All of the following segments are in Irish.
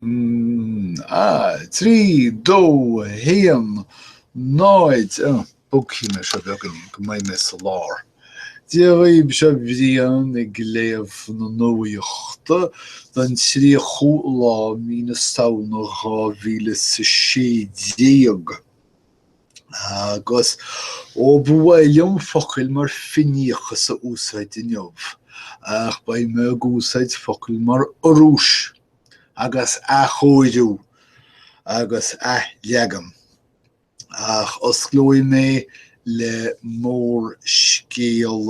3, 2, 1, 0, Ó, bogfaidh mé seo beagainín go mbeidh mé sa lár. Dia dhaoibh, seo Brian ag léamh na nuachta don 30ú lá mí na Samhna 2016. Agus, ó ba mhaith liom focail mar fíneachas a úsáid inniu, ach beidh mé ag úsáid focail mar urrús. agus athchóiriú agus athleagan, ach osclóidh mé le mórscéal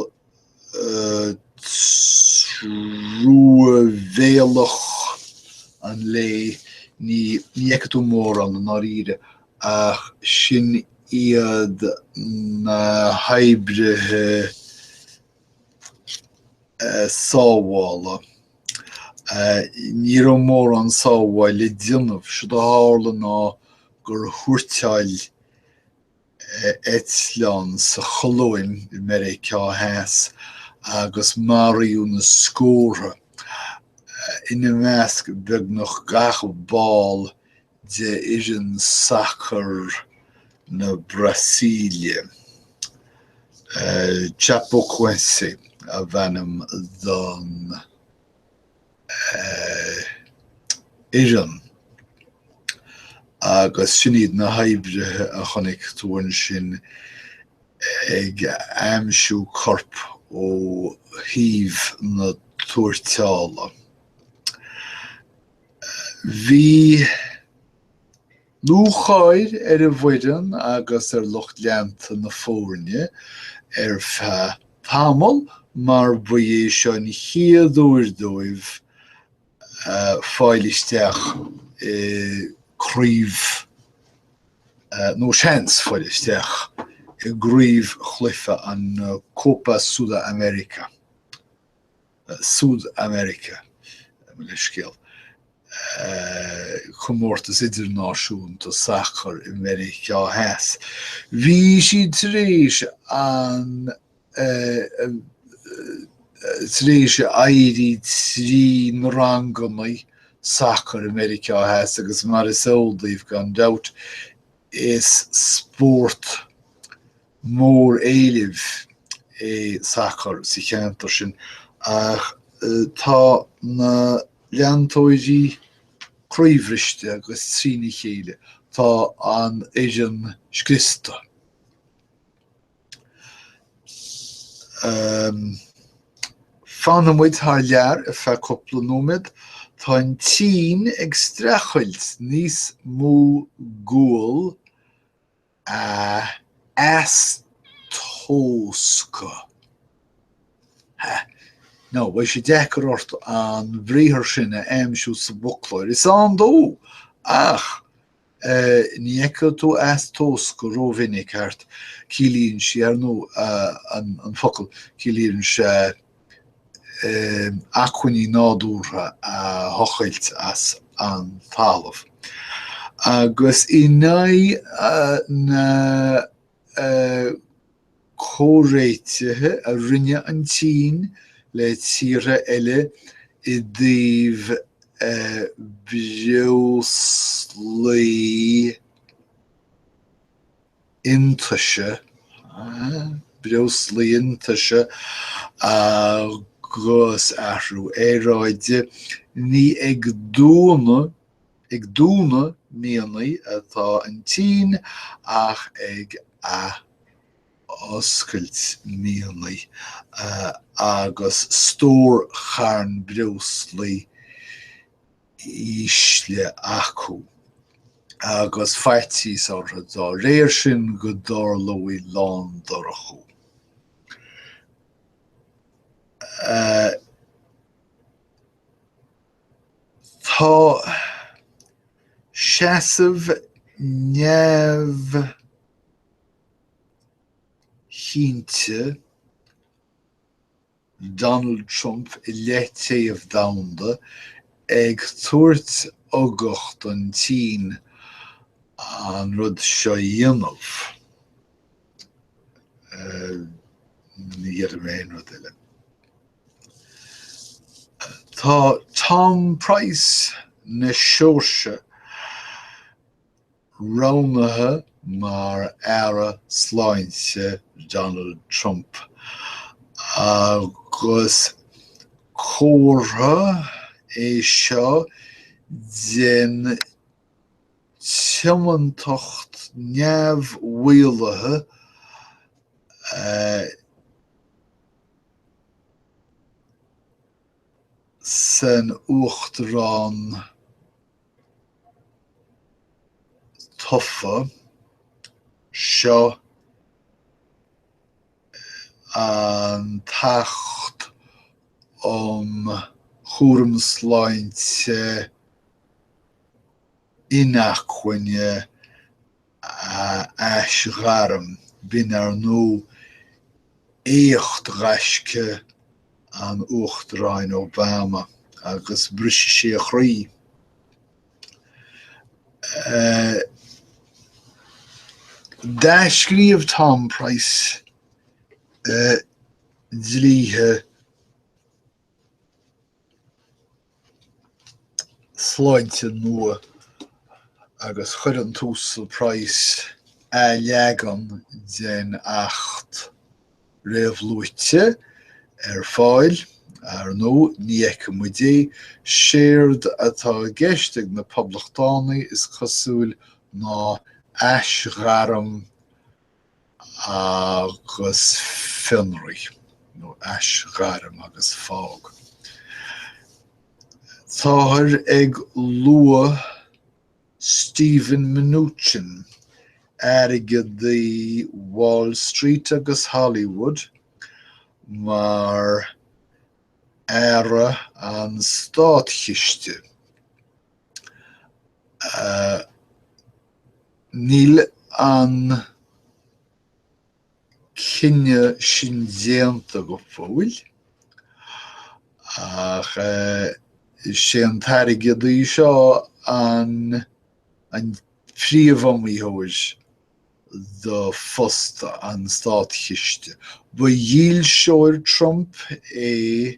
truamhéalach an lae, ní fheicfidh tú mórán, i ndáiríre, ach sin iad na hoibrithe, sábhála. Ní raibh mórán sábháil le déanamh, séard a tharla ná gur thuairteáil eitleán sa Cholóim i Meiriceá Theas agus maraíodh na scórtha, ina measc beagnach gach ball d'fhoireann sacair na Brasaíle. Chapecoense ab ainm don fhoireann agus sin iad na hoibrithe a chonaic tú ansin ag aimsiú corp ó thaobh na tuairteála. Bhí lúcháir ar an bhfoireann agus ar lucht leanta na foirne ar feadh tamaill mar ba é seo an chéad uair dóibh fáil isteach i gCraobh, nó seans fáil isteach i gcraobhchluiche an Copa Sudamerica. Sudamerica, mo leithscéal, comórtas idirnáisiúnta sacair i Meiriceá Theas. Bhí siad tar éis an, tar éis éirí trí na ranganna sacair i Meiriceá Theas agus mar is eol daoibh gan dabht, is spórt mór-éilimh ar sacar sa cheantar sin ach tá na leantóirí croíbhriste agus trína chéile. Tá an fhoireann scriosta. Fanann muid thar lear ar feadh cúpla nóiméad. Tá an tSín ag streachailt níos mó gual. a eastóscadh, ha, no, beidh sé deacair ort an briathar sin a aimsiú sa bhfoclóir, is ann dó, ach ní fheicfidh tú eastóscadh rómhinic thart, ciallaíonn sí, ar ndóigh, an focal, ciallaíonn sé, acmhainní nádúrtha a thochailt as an talamh agus i ndiaidh na comhréitigh a rinne an tSín le tíortha eile i dtaobh breoslaí, iontaise, breoslaí iontaise agus athrú aeráide, ní ag dúnadh ag dúnadh mianaigh atá an tSín ach ag athoscailt mianaigh agus stórcharn breoslaí ísle acu, agus faitíos orthu dá réir sin go dtarlódh lándorchú. Tá seasamh neamhchinnte Donald Trump i leith téamh domhanda ag tabhairt ugach don tSín an rud seo a dhéanamh. Ní dhéarfaidh mé aon rud eile. Tá Tom Price na Seoirse Roghnaithe mar Aire Sláinte Donald Trump agus comhartha é seo den tiomantacht neamh-mhaolaithe atá san Uachtarán tofa. Seo an tAcht um Chúram Sláinte Inacmhainne a aisghairm, b'in ar ndóigh éacht ghaisce an Uachtaráin Obama agus bhrisfeadh sé a chroí. D'athscríobh Tom Price dlíthe sláinte nua agus chuir an tUasal Price athleagan den Acht réamhluaite ar fáil. Ar ndóigh, ní fheiceann muid é. Séard atá i gceist ag na Poblachtánaigh, is cosúil, ná aisghairm agus fionraí nó aisghairm agus fág. Táthar ag lua Steven Mnuchin, airgeadaí Wall Street agus Hollywood, mar Aire an Státchiste, a Níl an cinneadh sin déanta go fóill, ach is é an t-airgeadaí seo an príomhiomaitheoir do phost an státchiste. Ba dhílseoir Trump é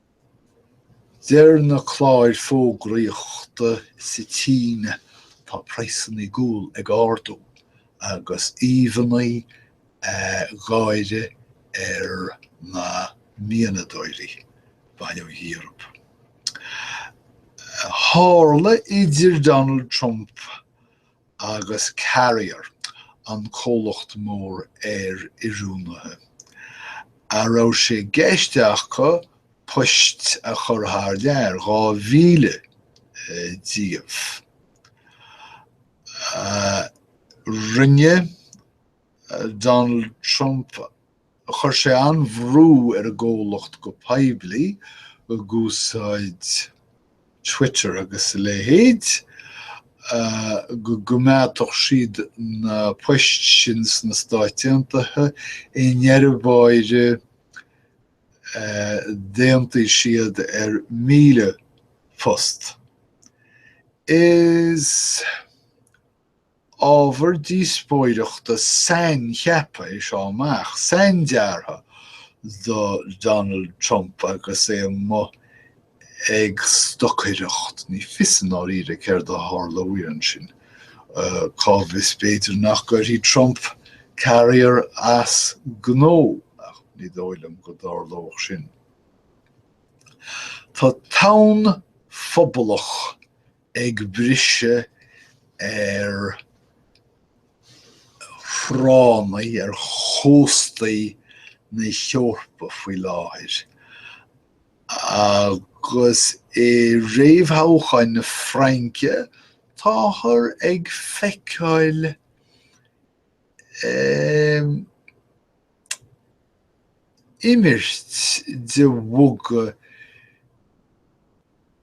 Deir na cláir fógraíochta sa tSín tá praghsannaí guail ag ardú agus íomhannaí gáire ar na mianadóirí. Baineadh Eoraip. Tharla idir Donald Trump agus Carrier, an comhlacht mór aer-oiriúnaithe, a raibh sé i gceist acu poist a chur thar lear, 2,000 díobh. Rinne Donald Trump Chuir sé an-bhrú ar an gcomhlacht go poiblí ag úsáid Twitter agus a leithéid go gcoimeádfadh siad na poist sin sna Stáit Aontaithe, i ndeireadh báire d'aontaigh siad ar 1,000 post. Is. Ábhar díospóireachta saincheaptha é seo amach, saindeartha do Donald Trump agus é amuigh ag stocaireacht. Ní fios i ndáiríre céard a tharlóidh ansin. Cá bhfios, b'fhéidir nach gcuirfidh Trump Carrier as gnó, ach ní dóigh liom go dtarlódh sin. Tá tonn phobalach ag briseadh ar thránnaí ar chóstaí na hEorpa faoi láthair agus i réamhthoghcháin na Fraince táthar ag feiceáil imirt de mhuga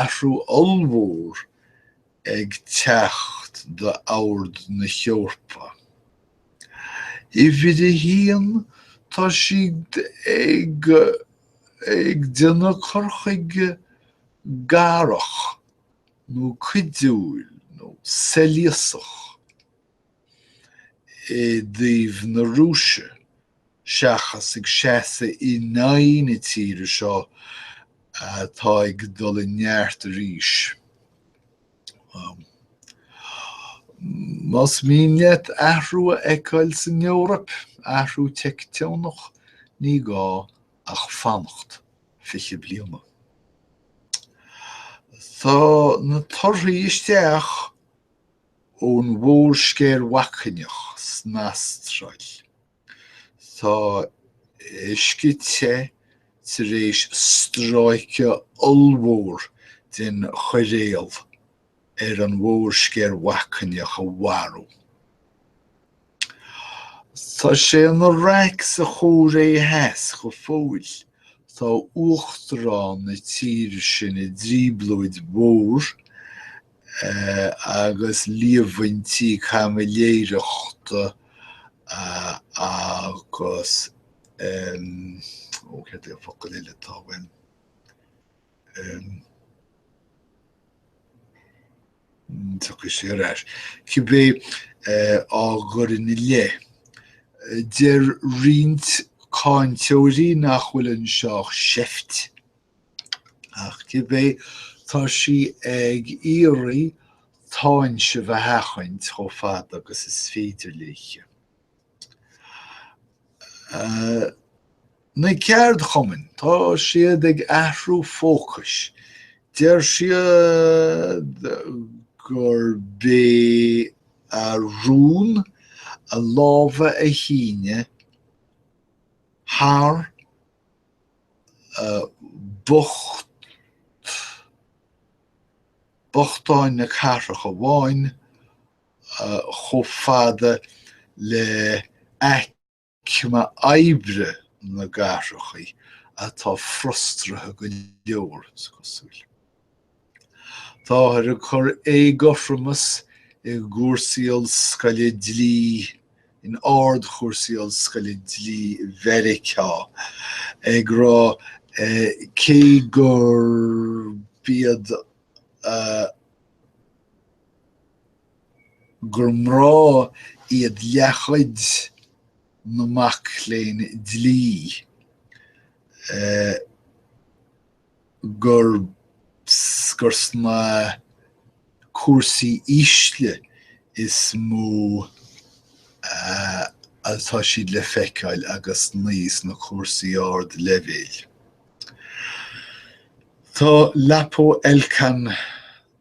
Athrú ollmhór ag teacht d'ord na hEorpa. Uimhir a haon, tá siad ag ag déanamh cur chuige garach nó cuidiúil nó soilíosach. i dtaobh na Rúise seachas ag seasamh in aghaidh na tíre seo atá ag dul i neart arís. Más mian leat athrú a fheiceáil san Eoraip, athrú teicteonach, ní gá ach fanacht fiche bliain. Tá na torthaí isteach Ón mhórsceir bhacainneach san Astráil, tá uisce te tar éis stráice ollmhór den choiréal ar an mhórsceir bhacainneach a mharú. Tá sé ina raic sa Chóiré Theas go fóill. Tá uachtarán na tíre sin i dtrioblóid mhór agus líomhaintí caimiléireachta agus, ó, céard é an focal eile atá againn? dtiocfaidh sé ar ais cibé á gcuirfí ina leith. Deir roinnt cáinteoirí nach bhfuil anseo ach seift ach cibé tá sí ag iarraidh táinseamh a sheachaint chomh fada agus is féidir léi. Na ceardchumainn, tá siad ag athrú fócais. Deir siad gurb é a rún a lámha a shíneadh thar bhochtáin na cathrach amháin chomh fada le aicme oibre na gcathracha atá frustraithe go leor, is cosúil. Táthar ag cur éagothromais i gcúrsaí ollscoile dlí in ardchúrsaí ollscoile dlí i Mheiriceá, ag rá cé gurb iad a. gur mná iad leathchuid na mac léinn dlí, gur sna cúrsaí ísle is mó atá siad le feiceáil agus ní sna cúrsaí ardleibhéil. Tá Lapo Elkann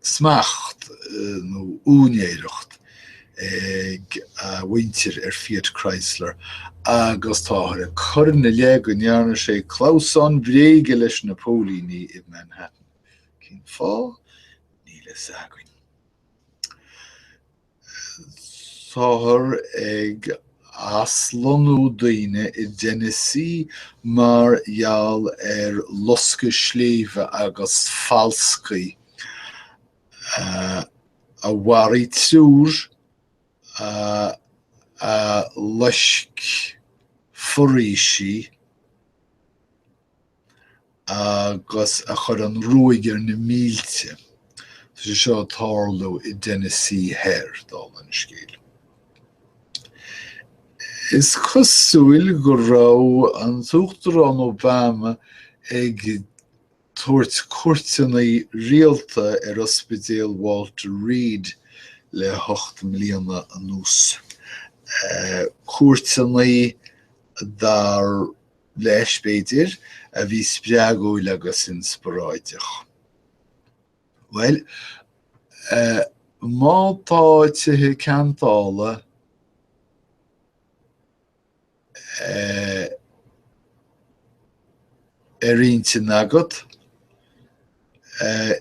smacht nó úinéireacht ag a mhuintir ar Fiat Chrysler agus táthar ag cur ina leith go ndearna sé clamhsán bréige leis na póilíní i Manhattan. Cén fáth? Níl a fhios againn. Táthar ag aslonnú daoine i dTennessee mar gheall ar loscadh sléibhe agus falscaí a mharaigh triúr a loisc foraoisí. agus a chuir an ruaig ar na mílte. Tá sé seo ag tarlú i dTennessee Thoir, dála an scéil. Is cosúil go raibh an tUachtarán Obama ag tabhairt cuairteannaí rialta ar Ospidéal Walter Reed le hocht mbliana anuas, cuairteannaí dar leis, b'fhéidir, a bhí spreagúil agus inspioráideach. Bhuel, eh, má tá tithe ceantála, eh, ar intinn agat,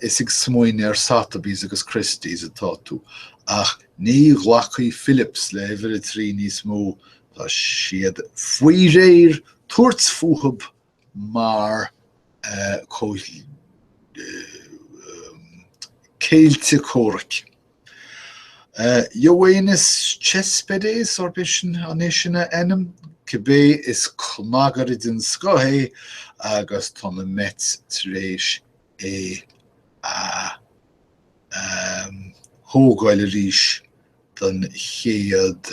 is ag smaoineamh ar Sotheby's agus Christie's atá tú, ach ní ghlacfaidh Phillips le huimhir a trí níos mó, tá siad faoi réir tabhairt fúthu mar eh, céilte comhraic. Yoenis Céspedes, arb é sin an é sin a ainm? Cibé is cnagaire den scoth é agus tá na Mets tar éis é a thógáil arís don chéad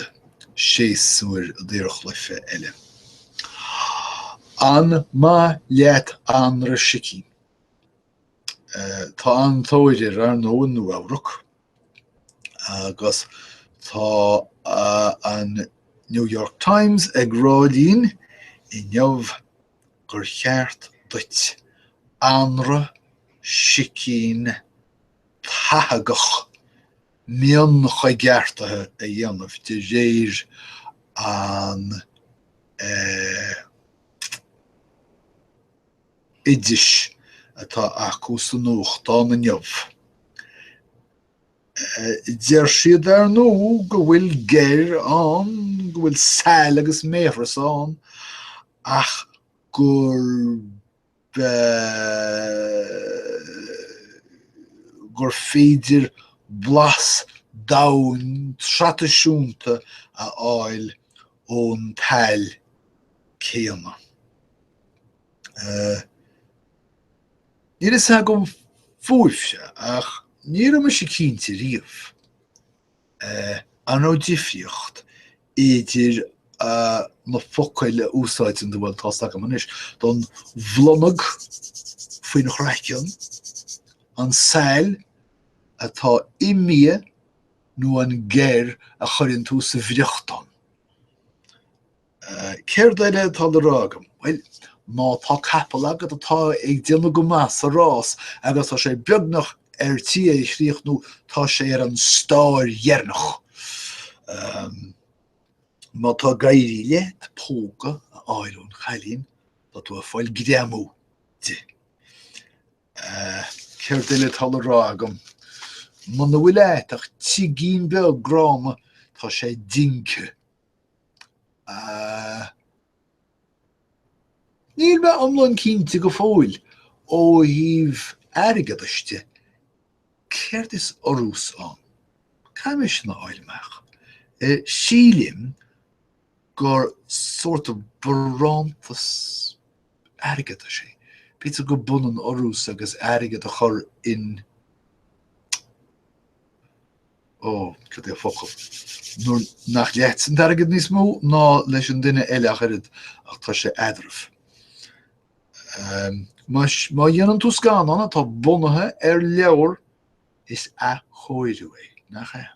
séasúr daorchluiche eile. An maith leat anraith sicín? Tá an-tóir air, ar ndóigh, i Nua-Eabhrac agus tá an New York Times ag rá linn inniu gur cheart duit anraith sicín tathagach mionchoigeartaithe a dhéanamh de réir an oidis atá acu sa nuachtán inniu. Deir siad, ar ndóigh, go bhfuil geir ann, go bhfuil saill agus méathras ann, ach gur, eh, gur féidir blas domhain traidisiúnta a fháil ón tsaill chéanna. Níl a fhios agam fúibhse ach ní raibh mise cinnte riamh an raibh difríocht idir na focail a úsáideann tú, bhuel tá a fhios agam anois, don bhlonag faoin chraiceann, an saill atá i mbia nó an geir a chuireann tú sa bhfriochtán. Céard eile atá le rá agam? Bhuel, má tá capall agat atá ag déanamh go maith sa rás agus tá sé beagnach ar tí é a chríochnú, tá sé ar an stáir dheireanach. Má tá ag éirí leat póga a fháil ón chailín, tá tú ag fáil greamú di. Céard eile atá le rá agam? Muna bhfuil agat ach tigín beag gránna, tá sé dingthe Níl mé iomlán cinnte go fóill, ó thaobh airgeadais de, céard is urrús ann. Caithfidh mé sin a fháil amach. Sílim gur sort of barántas airgeadais é. B'fhéidir gurb ionann urrús agus airgead a chur in. Ó, cad é focal? Nuair nach leatsa an t-airgead níos mó ná leis an duine eile ach oiread, ach tá sé idir lámha. Má dhéanann tú scannán atá bunaithe ar leabhar, is athchóiriú é, nach ea?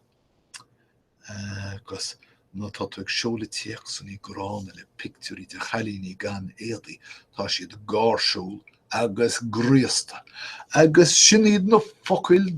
Agus má tá tú ag seoladh téacsanna gránna le pictiúirí de chailíní gan éadaí, tá siad gáirsiúil agus graosta. Agus sin iad na focail